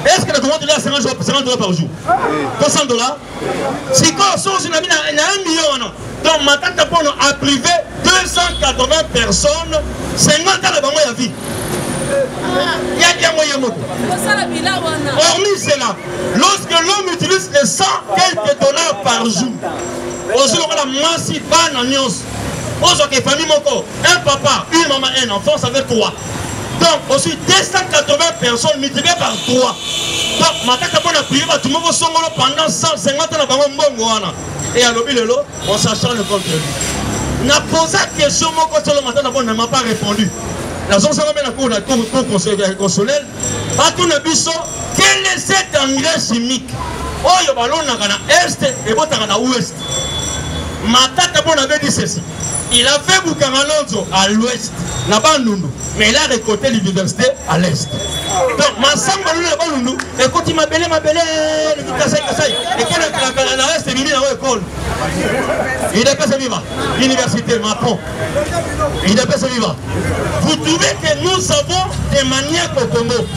Est-ce que le commande là 50 dollars, 50 dollars par jour 300 dollars Si quand sont sur la mine, il y a un million, non Donc, ma tante Pono a privé 280 personnes, 50 ans de bango ya vie. yaki yango ye moko hormis cela lorsque l'homme utilise les 100 quelques dollars par jour ozwi lokola mwasi bana nyonso ozwaka efami moko un papa une mama un enfant ça fait 3 donc ozwi 280 personnes multiplie par 3 donc matata mpo na priye bato moko songolo pendant 150 na bango mbongo wana e alobi lelo on s'acharne contre lui na posa question moko solo matata mpo na ma pas répondu nazosala mpe na cour na cour constitutionnel batuna biso quel est cet engrais chimique oyo balonaka na est ebotaka na ouest matata mpo na bedi ceci Il a fait Bukangalonzo à l'ouest, na Bandundu, mais il a récolté l'université à l'est. Donc, ma samba na Bandundu, ekoti mabele mabele, le kasai kasai, et quel est la la la c'est mini na école. Il a passé vivre l'université Macron. Il a passé vivre. Vous trouvez que nous avons des maniaques au Congo,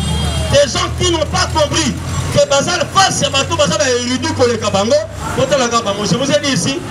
des gens qui n'ont pas compris que bazal face ya bato baza ba erudu koleka bango botalaka bango je vous ai dit ici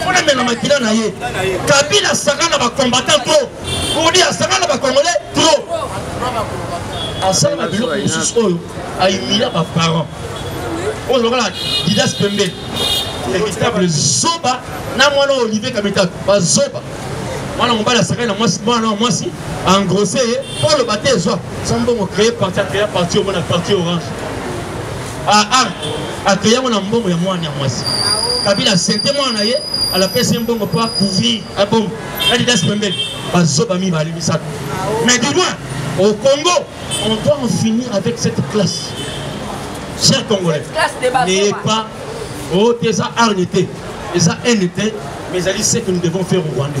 faut les mêmes makila na ye kabila asanga na bacombattant trop kodi asanga na bacongolais trop asala na biloko mosusu oyo aimilia baparent oyo lokola didas pembeni véritable zoba na mwana oyo olivier kabitatu bazoba mwana mobali asakani na mwasi mwana mwasi engrosse ye mpo oloba te ezwa sombongo créé parti acréa parti omona parti orange Ah ah, akeya ngo na mbongo ya mwana ya mwasi. Kabila accepte mwana na ye, alapesi mbongo mpo akouvrir abongo. Adidas pembeni, bazoba mibale misato. Mais du moins, au Congo, on doit en finir avec cette classe. Chers Congolais, n'ayez pas oh, des arnes, des haines, mais c'est ce que nous devons faire au Rwandais.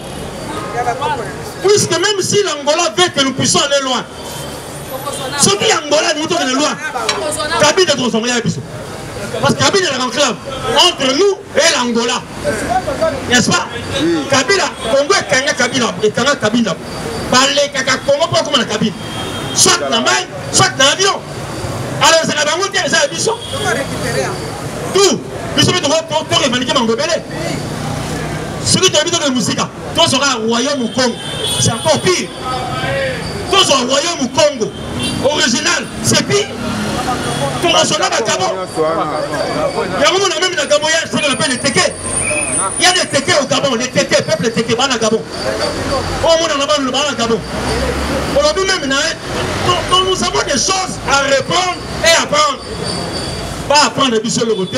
puisque même si l'angola veut que nous puissions aller loin soki ya angola elingi tokende loin kabila tokozongola ya biso parce que kabila elaka enclave entre nous et l'angola n'est-ce pas kabila congo ekanga kabila ekanga kabila balekaka congo mpo akoma na kabila soit na mai soit na avion alors ezala bango te eza ya biso tout biso mpe torevenike bango ebele soki toyebi tokende mosika tozwa kaka royaume congo c'est encore pire tozwa royaume congo original c'est pire tokosona bakabo yango mona meme na gabo ya solo na mpe leteke ya leteke au gabon leteke peuple leteke bana gabon oyo mona na bana bana gabon olobi meme na ye nous avons des choses à répondre et à prendre ba apprendre biso eloko te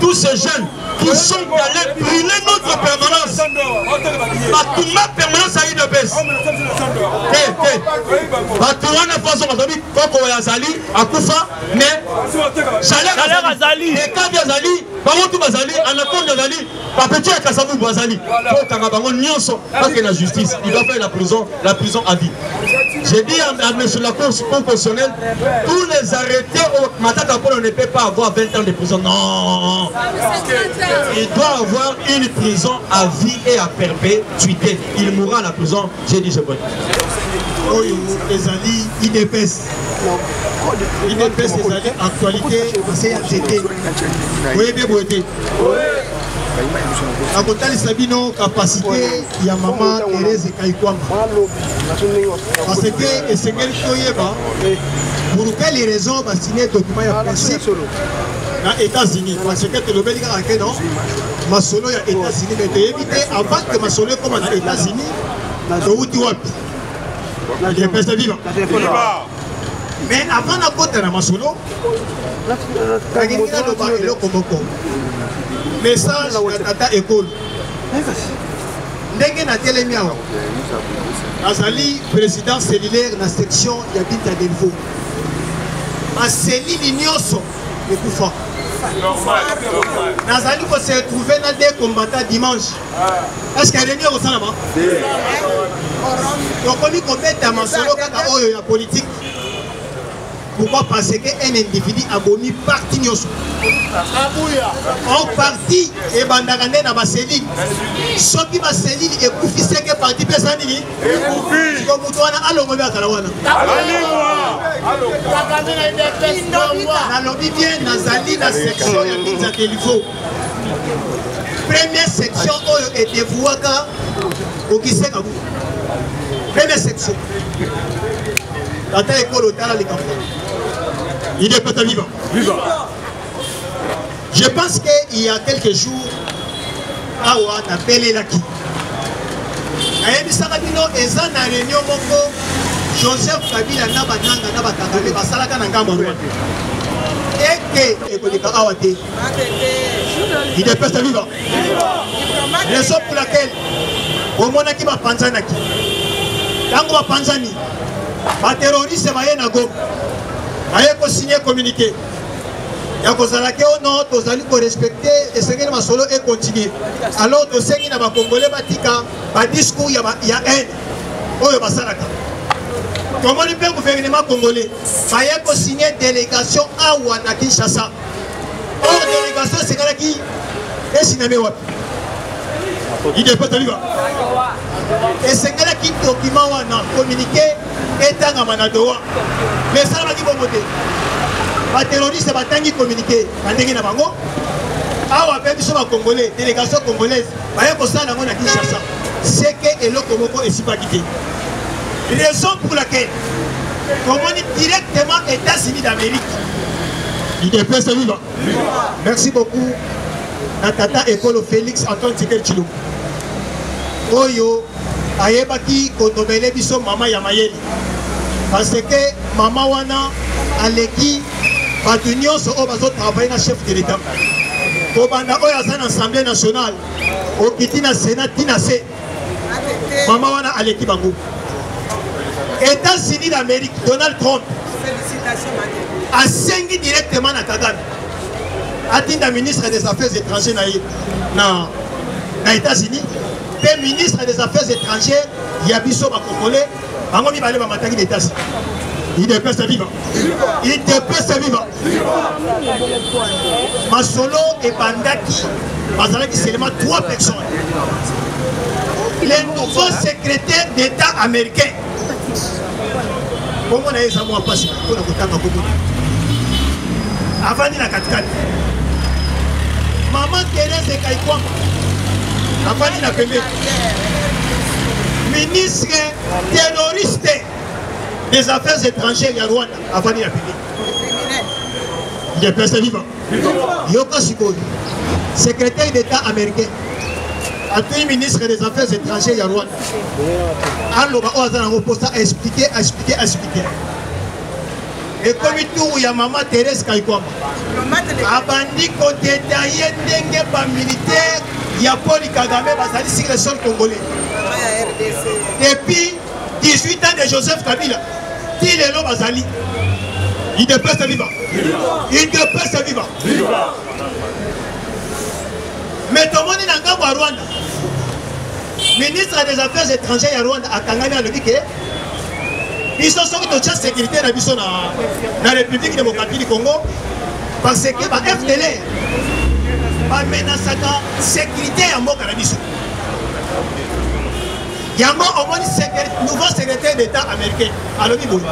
tous ces jeunes qui sont allés brûler notre permanence. Batuma permanence à Idebes. Te, te. Batouana façon azali koko oyo azali akufa mais salaire azali ekabi azali bango tu bazali anakonde azali bapeti ya kasabubu azali kotanga bango nyonso bake na justice il doit faire la prison la prison à vie. J'ai dit à, à M. la Cour constitutionnelle, tous les arrêtés au Matata Polo ne peut pas avoir 20 ans de prison. Non Il doit avoir une prison à vie et à perpétuité. Il mourra à la prison. J'ai dit, je vote. oyo ezali idps idps ezali actualité na se ya nzete oyebi boye te akotalisa bino kapasite ya mama Therese Kaikwanga parce que esengeli toyeba pour quelle raison basine document ya principe na États-Unis parce que tolobeli kaka ke non masolo ya États-Unis mais toyebi te avant que masolo ekoma na États-Unis towuti wapi epesa viva mais avant nakota na masolo nalingi naloba eloko moko message na tata ekolo ndenge natelemi awa azali président cellulaire na section ya binta delvaux baselili nyonso ekufa nazali kose retrouve na de combata dimanche eske réunion ekosalama tokomi kobeta masolo kaka oyo ya politike Pourquoi Parce qu'un individu a bomi parti nyoso. En partie, et bandagane na baselil. Ce qui va selil et koufi c'est que parti pesa nini Et koufi. Comme tu as un alongo bien kalawana. Nalobi bien nazali na section ya Kinza Kelivo. Première section oyo oh, edevouaka okise kabu. Première section. Tata ekolo tala likambo. Il est peut-être vivant. Vivant. Je pense qu'il y a quelques jours, awa napelelaki nayebisaka bino eza na réunion moko joseph kabila na bananga na bakangame basalaka na ngambo rwanda ete ekoleka awa te idps ya viva raison pour laquelle omonaki bapanzanaki ntango bapanzani baterroriste baye na goma baye kosigne communiqué ya kozala ke o non tozali korespecte esengeli masolo ekontinue alors tosengi na bakongole batika badiscours ya, ya haine oyo basalaka tomoni mpe guvernema congolais baye kosigne délégation awa na kinshasa Or délégation esengalaki esiname wapi idps taliba esengalaki dokima wana communiqué etangama na dowa mais esalamaki bongo te baterroriste batangi communiqué na ndenge na bango awa mpe biso bacongolais délégation congolaise baye kosala yango na kinshasa seke eloko moko esipaki te raison pour laquelle tomoni directement états-unis d'amérique idepese viva merci beaucoup na tata ekolo félix antoine tikel tshilombo oyo ayebaki konomele biso mama ya mayele parce que mama wana aleki bato nyonso oyo bazotravaille na chef de l'état kobanda oyo aza na assemblée nationale okiti na sénat ti na se mama wana aleki bango états-unis d'amérique donald trump asengi directement na kagame atinda ministre des affaires étrangères na ye na, na états-unis mpe ministre des affaires étrangères ya biso bakongole bango mibale bamataki na états-unis idepesa viva idepese viva masolo ebandaki bazalaki selema 3 personnes le nouveau secrétaire d'état américain bongo na ye eza mwa mpasi mpona kotanga komona avandi na katikati mama terese kaikwama avandi na pembeni ministre terroriste des affaires étrangères ya rwanda afandi na public ndepese viva yoka sikoyo secrétaire d'état américain atui ministre des affaires étrangères ya rwanda aloba oyo aza nango mposa aexplike aexplike aexplike ekomi turu ya mama therese kaikwama abandi kodetaye ndenge bamilitaire ya poli kagame bazali sur le sol congolais depuis 18 ans de Joseph Kabila ti lelo bazali idps viva idps viva mais tomoni na ngambo ya rwanda ministre des affaires étrangères ya rwanda akangami alobi ke biso soki totya sécurité na biso na république démocratique du congo parce que ba fdlr bamenasaka sécurité ya mboka na biso yango omoni nouveau secrétaire d'état américain alobi boye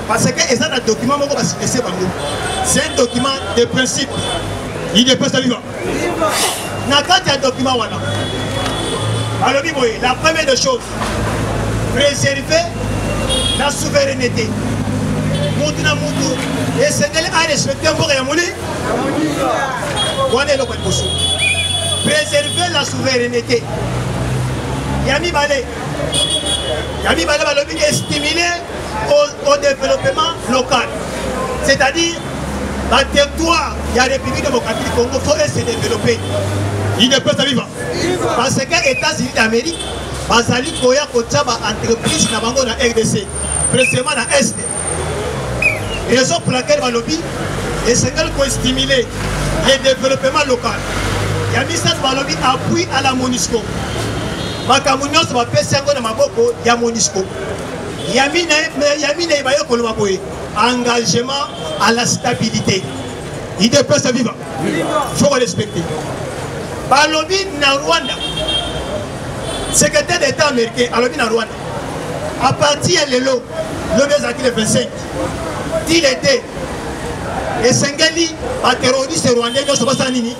parce que eza na document moko basilese bango c'est un document de principe idepesa viva na kati ya document wana alobi boye la première de chose préserver la souveraineté mutu na mutu esengeli arespecte mboka ya moli wana eloko liboso préserver la souveraineté ya mibale ya mibale balobi estimuler au, au développement local c'est-à-dire baterritoire ya république démocratique du congo faut se développer idepesa viva parce que états-unis d'amérique bazali koya kotya baentreprise na bango na rdc précisément na est Raison pour laquelle balobi esengeli ko stimuler le développement local. Ya misato balobi appui à la MONUSCO. Makambo nyonso bapesi yango na maboko ya MONUSCO. Ya minei baye koloba boye engagement à la stabilité. Idepesa viva. Il faut respecter. Balobi na Rwanda secrétaire d'état américain alobi na Rwanda à partir ya lelo lobi ezalaki le 25 ti le 2 esengeli baterroriste rwandais nyonso basala nini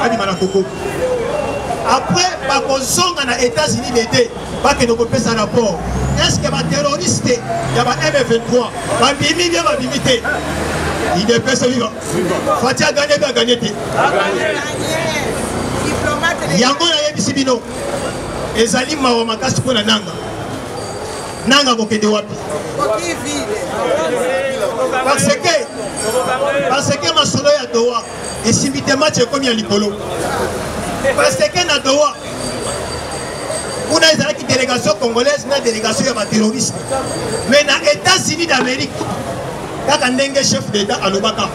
babima na koko après bakozonga na états-unis le 2 bakende kopesa rapport est ce que baterroriste ya ba m23 babimi bie babimi te idepese viva fati aganye mpe aganye te yango nayebisi bino ezali mawa makasi mpo na nanga nanga kokende wapi parce que parce que masolo ya dowa esimbi te match ekomi ya likolo parce que na dowa kuna ezalaki délégation congolaise na délégation ya baterroriste mais na états-unis d'amérique kaka ndenge chef d'état alobaka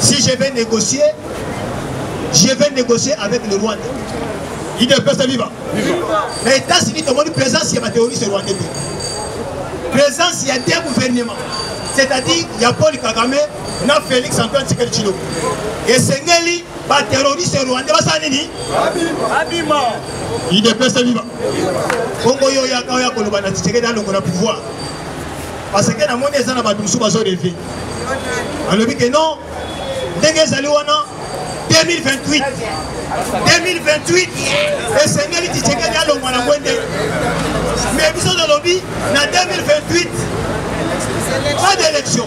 si je vais négocier je vais négocier avec le rwanda idps viva na états-unis tomoni présence ya baterroriste rwandais te présence ya deux gouvernement c'est-à-dire ya paul kagame na félix antoine tsikeli chilo esengeli baterroriste rwandais basala nini abima idps viva bongo yo oyaka oya koloba na tshisekedi alongo na pouvoir parce que namoni eza na bato mosusu bazoreve alobi ke non ndenge ezali wana 2028 2028 esengeli tshisekedi alongwa na ngwende mais biso tolobi na 2028 pas d'élection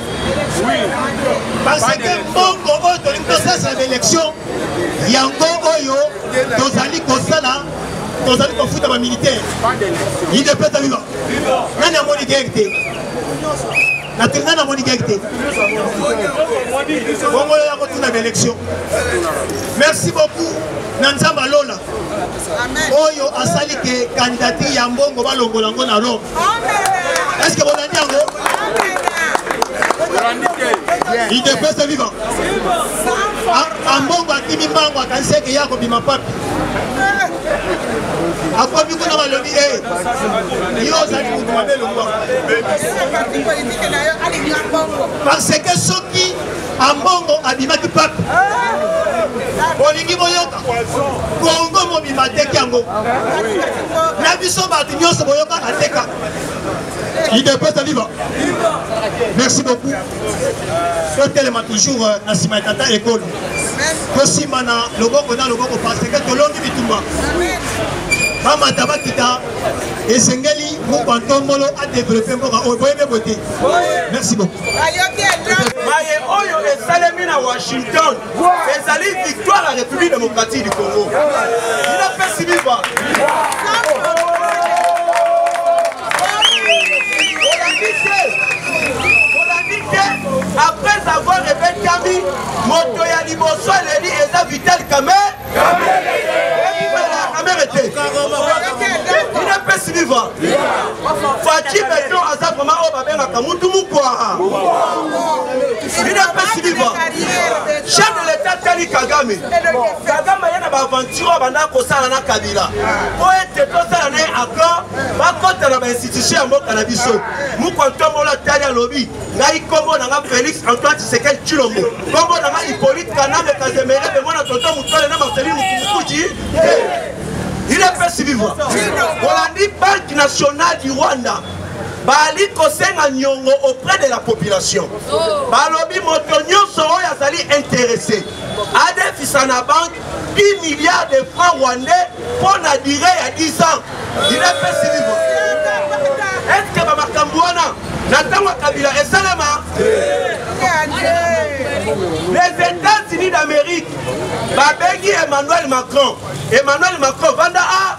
parce que mbongo oyo tolingi tosasa baélection yango oyo tozali kosala tozali kofuta bamilitaire idepesa viva nani amoni guerre te natingi ngai namoni gege te bongo yo yako tuna na élection merci beaucoup na nzambe alola oyo asali ke kandidature ya mbongo balongola yango na rome estce bolandi yango idepese viva ambongo akimi mbango akaniseke ya kobima papi akomi kuna balobi e yo ozali moto mabe longwa parce que soki ambongo abimaki pape bolingi boyoka kongo mobima ateki yango na biso bato nyonso boyoka ateka idps aviva merci beaucoup totelema toujours euh, na nsima ya tata ekolo tosimana loboko na loboko paseke tolongi bitumba bamata bakita esengeli mokwa ntombolo adevelope mboka oyo boyebe boye te merci beaucoup maye oyo esalemi na washington ezali victoire ya république démocratique du congo inapesi biva après avoir répété moto ya liboso aleli eza vital kamer kamere te ina pesi viva faci beton aza vraimen oyo babengaka mutu mukwara ina pesi viva chef de l'état tali kagame kagame aye na baaventure oyo abandaka kosala na kabila mpo ete tosala na ye accord bakota na bainstitution ya mboka na biso mukwa ntombola tali alobi ngai kombo na nga félix antoine tshisekedi tshilombo kombo na nga hippolyte kanambe kazemere pembo na tonto mutole na marceli mukumukuji il est pesi vivant olandi banque nationale du rwanda bali kosenga nyongo auprès de la population oh. balobi moto nyonso oyo azali interesse adefisa na banque 10 milliards de francs rwandais mpo na dire ya 10 ans dinapesi libo eske bamakambo wana na ntango ya kabila esalema les états-unis d'amérique babengi emmanuel macron emmanuel macron vanda a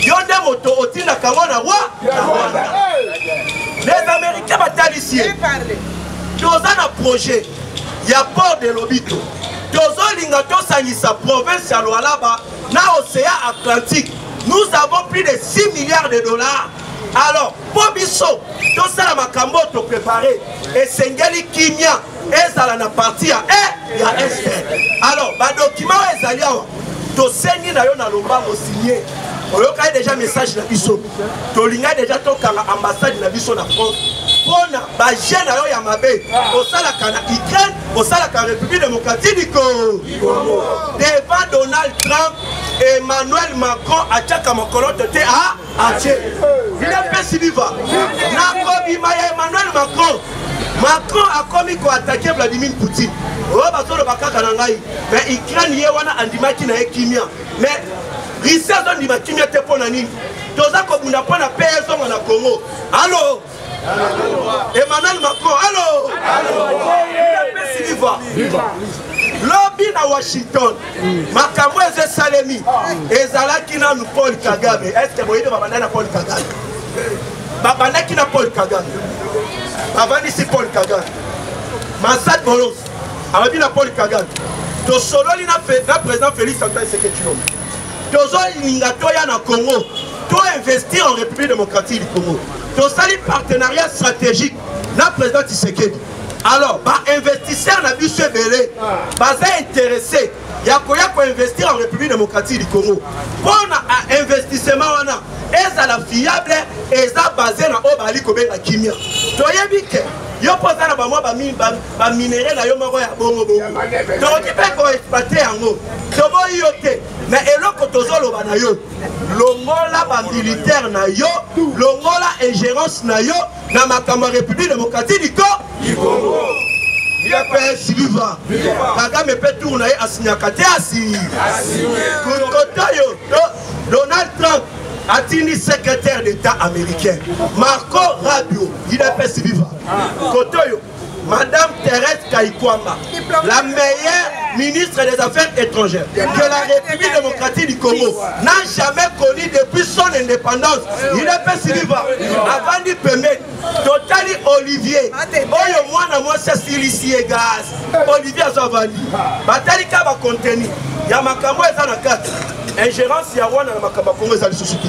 yo nde moto otindaka ngo na wa na rwanda les américains batalisi ye toza na projet ya port de lobito tozolinga tosangisa province ya lualaba na océan atlantique nous avons plus de 6 milliards de dollars alors mpo biso tosala makambo oyo toprepare esengeli kimia ezala na parti ya e ya est alors badokima oyo ezali awa tosengi na yo na lombango signe oyokaki deja message na biso tolingai deja tokanga ambassade na biso na france mpona baje na yo ya mabe osalaka na ukraine osalaka république démocratique du congo devant donald trump emmanuel macron atiaka mokoloto te a atie vina mpesi viva nakobima ya emmanuel macron macron akomi koatake vladimir poutine oyo bazoloba kaka na ngai me ukraine ye wana andimaki na ye kimia me risi azondima kimia te mpo na nini toza kobunda mpo na pe ezonga na congo alo Emmanuel Macron, allô lobi na washington makambo ezo esalemi ezalaki nanu paul kagame estce boyebi babanda na paul kagame babandaki na paul kagame bavandisi paul kagame masad bolos alobi na paul kagame tosololi na président félix antoine seketulombe tozolinga toya na congo to investir en république démocratique du congo tosali partenariat stratégique na président tshisekedi alors bainvestisseur na biso ebele baza interesse ya koya koinvestir en république démocratique du congo mpo na investissement wana ezala fiable eza base na oyo bazali kobenga kimia toyebi ke yo mpo oza na bamwa ba minerais na yo moko ya bongo bongo tokoki mpe koexploite yango toboyi yo te me eloko tozoloba na yo longola bamilitaire na yo longola ingérence na yo na makambo ya république démocratique du congo udps viva kagame mpe tour na ye asinyaka te asi kotoyo donald trump atindi secrétaire d'état américain marco rabio udps viva kotoyo Madame Thérèse Kayikwamba, la meilleure ministre des Affaires étrangères de la République démocratique du Congo, n'a jamais connu depuis son indépendance. Il est pas si vivant. Avant d'y permettre, totali Olivier, oyo mwana mwasi asilisi ye gaz, Olivier azo avandi. Batali ka ba contenu ya makambo eza na kati. Ingérence ya wana na makambo ya Congo eza lisusu te.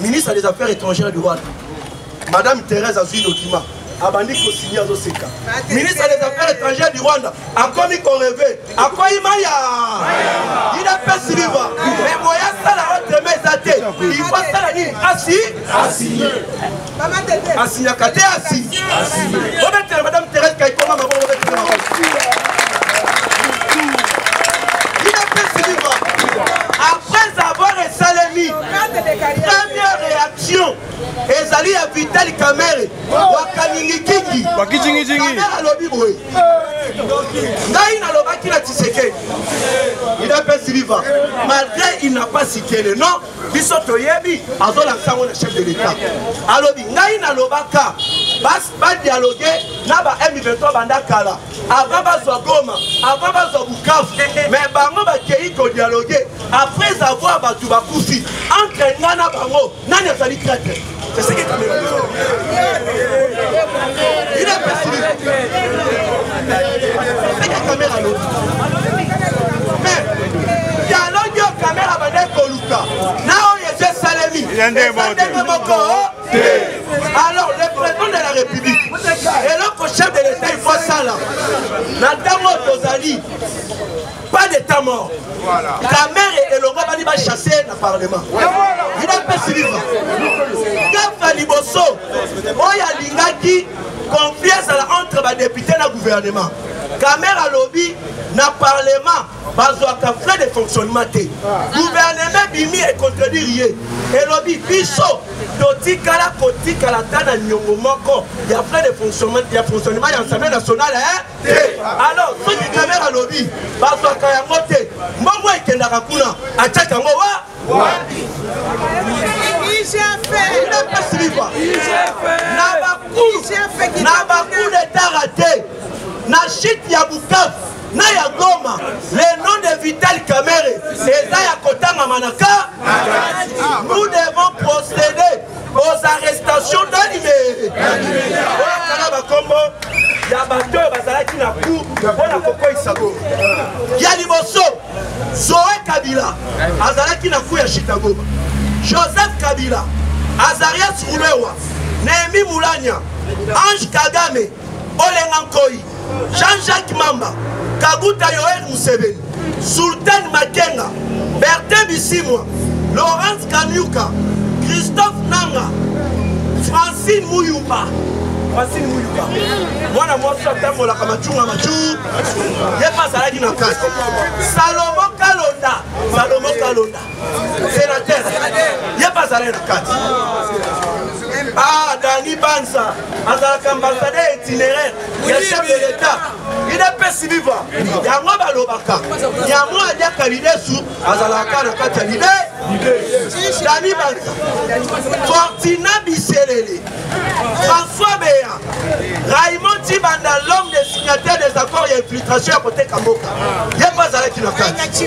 ministre des affaires étrangères du rwanda madame thérèse azwi document abandi kosigne azoseka ministre des affaires étrangères du rwanda akomi koreve akwei maya idapesi viva me boye asala otrema eza te ifo asala nini asi asinyaka te asi obetela madame thérèse kaikoma maboko obetela maboko première réaction ezali ya vitali kamere wakaningikingi kamere alobi boye ngai nalobaki na tisekedi il a pas vivant malgré il n'a pas cité le nom biso toyebi azolakisa yango na chef de l'état alobi ngai nalobaka badialoge na ba m23 banda kala avant bazwa goma avant bazwa bukavu mais bango bakei kodialoge après avoir bato bakufi entre nga na bango nani azali traitre dialoge oyo kamera bande koluka na oyo ezo esalemi ndenge moko alors le président de la république eloko chef de l'état ifo asala na ntango oyo tozali pas d'état mort kamere elongo bani bachasse na parlement ina mpesi liva gafa liboso oyo alingaki conflit ezala entre badepute na gouvernement kamere alobi na parlement bazwaka frais de fonctionnement te guvernema ebimi econtredire ye elobi biso totikala kotikala ata na niongo moko ya frais de fonctionnement ya fonctionnement ya assemblée nationale te alors soki kamere alobi bazwaka yango te mbongo ekendaka kuna atiaka yango wa wapi na bacour na bacour de tara te na chute ya bukavu na ya goma le nom de vital kamere eza ya kotangama na ka nous devons procéder aux arrestations d'animere oyakala bakombo ya bato oyo bazalaki na ku mpo na kokweyisa go ya liboso zoe kabila azalaki na ku ya chicagoba joseph kabila azarias rubewa nehemi mulanya ange kagame olenga nkoi jean jacques mamba kaguta yoel museveni sultan makenga bertin bisimwa laurence kanyuka christophe nanga francine muyumba francine muyumba mwana mwasi atambolaka macunga macu ye mpe azalaki na kati salomo kalonda salomo kalonda senateur ye bazala na kati ah dani banza azalaka ambassadeur itineraire ya chef de l'état idepesi viva yango balobaka yango aliaka lidesu azalaka na kati ya lide dani banza fortina biselele françois beya raymond tibanda l'homme des signataires des accords ya infiltration ya koteka mboka ye mpe azalaki na kati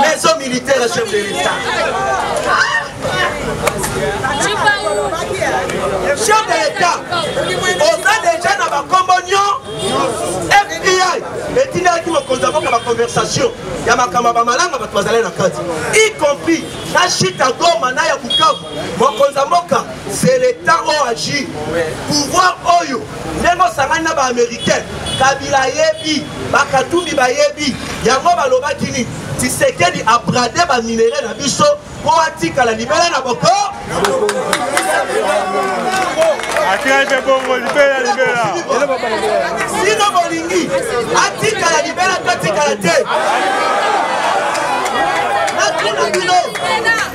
maison militaire ya chef de l'etat chef de l'etat oza deja na bakombo nyo fbi etindaki mokonzi ya mboka baconversation ya makambo ya bamalanga bato bazali na kati y compris na shita goma na ya bukavu mokonzi ya mboka c'est l'etat oyo agi pouvoir oyo ndenge osangani na baamericain kabila ayebi bakatumbi bayebi yango balobaki nini tisekedi aprade baminere na biso mpo atikala libela na boko atikali mpe bongo libela libela sino bolingi atikala libela to atikala te natuna bino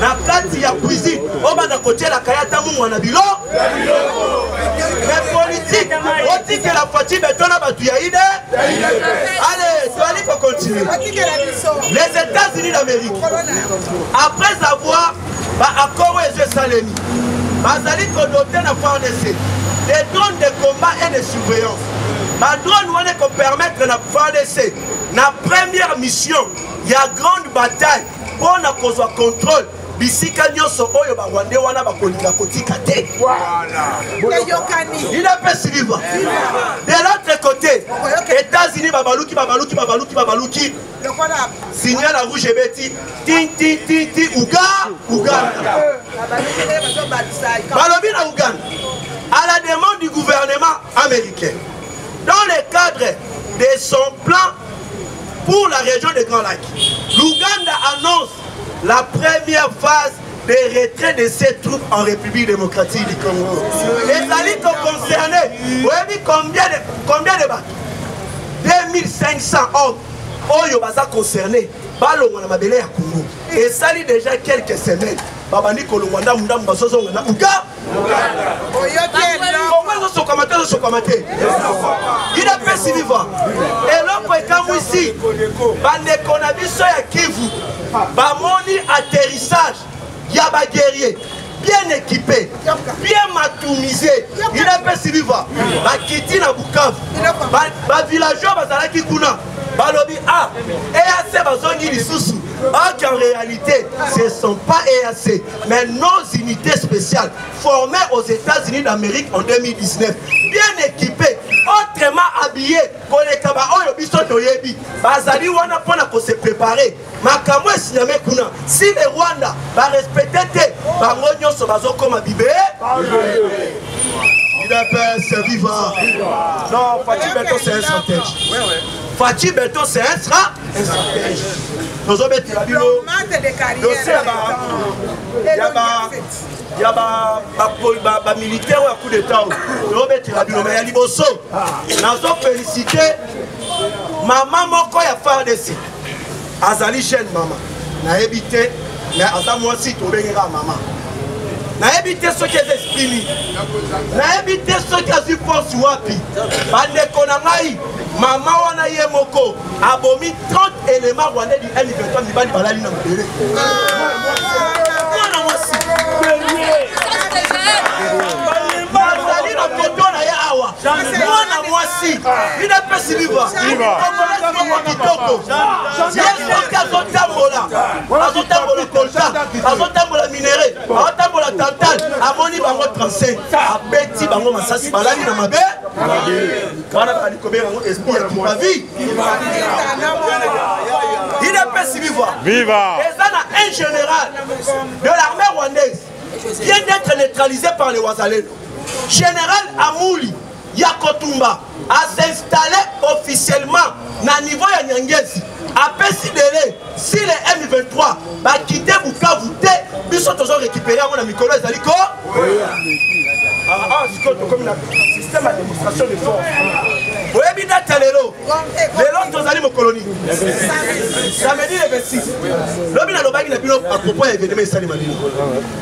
na kati ya cuisine obanda kotielaka ye ata mungwa na bilo me politike otikela faci beto na bato ya ide ale toali kocontinue les états-unis d'amérique après avoir baaccord oyo ezo esalemi bazali kodote na fardc des drones de combat et de surveillance badrone wana ekopermettre na fardc na première mission ya grande bataille mpo na kozwa contrôle bisika nyonso oyo barwande wana bakolinga kotika te inapesi viva de l'autre côté états-unis babaluki babaluki babaluki babaluki signal ya rouge ebeti tintintinti uga uganda balobi na uganda à la demande du gouvernement américain dans le cadre de son plan Pour la région de Grand Lac, l'Ouganda annonce la première phase de retrait de ses troupes en République démocratique du Congo. Les alliés sont concernés. Vous voyez combien de, combien de bateaux 2500 hommes. Oyo baza concernés. balongwa na mabele ya congo esali déjà quelques semaines babandi kolongwa ndambu ndambu bazozonga na uga kongo ezosokama te ezosokama te idapesi viva eloko ekamwisi bandeko na biso ya kivu bamoni atterrissage ya baguerrier bien équipé bien matumise idapesi viva bakiti na bukavu bavillageois bazalaki kuna balobi ah eac bazongi lisusu or qu'en réalité ce sont pas eac mais nos unités spéciales formées aux États-Unis d'Amérique en 2019, bien équipées, autrement habillées, koleka ba oyo biso toyebi, bazali wana pona ko se préparer. Makambo esinyame kuna, si le Rwanda ba respecter te, bango nyonso bazokoma bibe. Udps, viva! Non, Fatih Beton, c'est un stratège. Fatih Beton, c'est un stratège. tozobetela bino dosie ya bamilitaire oyo ya coup d'etat oyo tozobetela bino me ya liboso nazofelicite mama moko ya fardc azali jeune mama nayebi te me aza mwasi tobengeka mama nayebi te soki eza esprimi nayebi te soki azwi force wapi bandeko na ngai mama wana ye moko abomi 30 éléments rwandais du M23 mibali balali na mabele mwana mwasi bazali na foto na ye awa mwana mwasi bino epesi liva kitoko yesoki azotambola azotambola kolta azotambola minere azotambola tantal amoni bango 35 abeti bango masasi balali na mabe wana bazali kobenga yango esprit ya kibavi idps viva viva eza na un général de l'armée rwandaise vient d'être neutralisé par le wazaleno général amouli ya kotumba a s'installe officiellement na niveau ya nyangezi apesi dele si le m23 bakite bukavu te biso tozo récupéré yango na mikolo ezali ko sikoyo tokomi na système ya démonstration de force oyebi date ya lelo lelo tozali mokoloni samedi le 26 lobi nalobaki na bino apropos ya événement esalema bino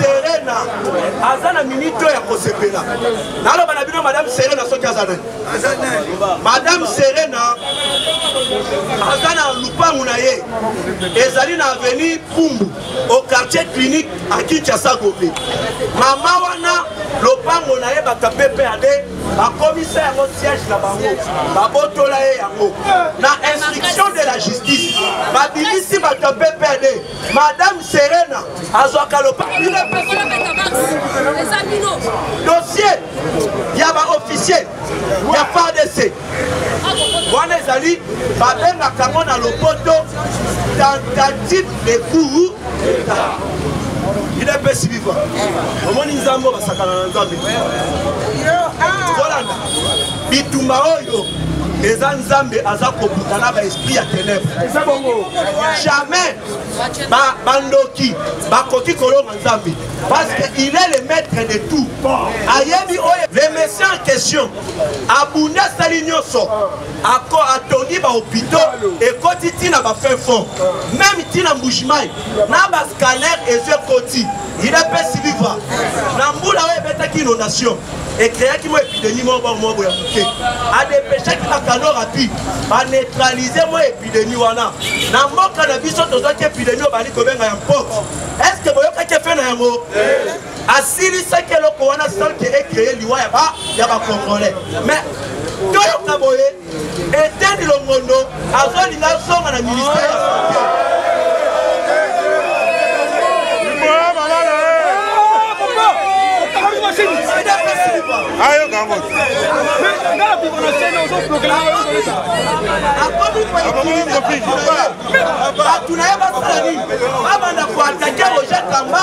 serena aza na minite oyo ya kosepela naloba na bino madame serena soki aza nani madame serena aza na lupangu na ye ezali na avenue pumbu au quartier clinique à kinshasa gobe mama wana lopango na ye bato ya ppad bakomisa yango siège na bango babotola ye yango na instruction de la justice babimisi bato ya ppad Madame Serena azwaka lopango bino epesi dossier ya ba officier ya FARDC wana ezali babengaka yango na lopoto tentative de coup idps viva omoni nzambe basakana na nzambe kolanda bitumba oyo eza nzambe aza kobuta na baesprit ya tenebre eza bongo jamais bandoki bakoki kolonga nzambe parce que il est le maître de tout ayebi oyo le messie en question abundi asali nyonso ako atongi bahopitaux ekoti ntina bafin fond meme ntina mbujimai na bascalaire ezo ekoti il apesi vivre na mbula oyo ebetaki inondation ecreaki mwa epidemie moko bango moko ya moke adepeshaki bakano rapide baneutralize mwa epidemie wana na mboka na biso tozwaki epidemie oyo bali kobenga ya mpote estce boyokaki efe na yango asilisaki eloko wana sanke ecreye liwa ya bacongolais mais toyoka boye Etienne Longondo azolinga azonga na ministère ya sante. ayoka yango bato na ye basala nini babanda koatake roger kamba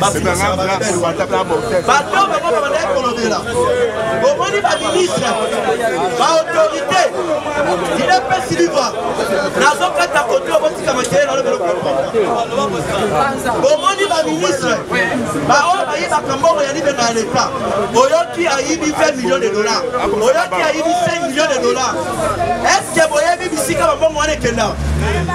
bato bango babandaki kolobela omoni baministre baautorité idepesi liva nazokata kote obotika makele nalobelobomoni baministre baoyo bayibaka mbongo ya libenga ya leta oyoki ayibi 20 million de dollar oyoki ayibi 5 million de dollar estce boyebi bisika bambongo wana ekenda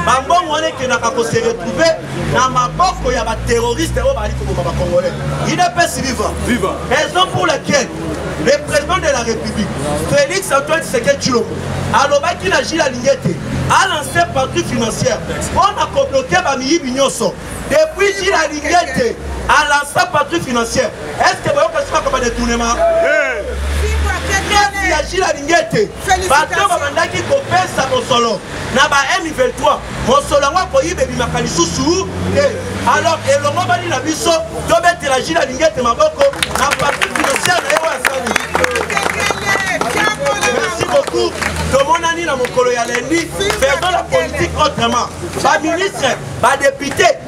bambongo wana ekendaka koseretrouve na maboko ya baterroriste oyo bazali koboma bacongolais idps viva viva raison pour laquelle le président de la république félix antoine tshisekedi tshilombo alobaki na gile alingi ete alanse parti financière mpo na kobloke bamiyibi nyonso depuis gile alingi ete alansa parti financière est ce que boyoka soki akoma détournement ya gile alingi ete bato babandaki kopesa mosolo na ba m23 mosolo yango akoyiba ebimaka lisusu te alors elongobani na biso tobetela jina lingete maboko na parti financiere na ye oyo asali merci beaucoup tomonani na mokolo ya lendi faisons la politique autrement baministre badepute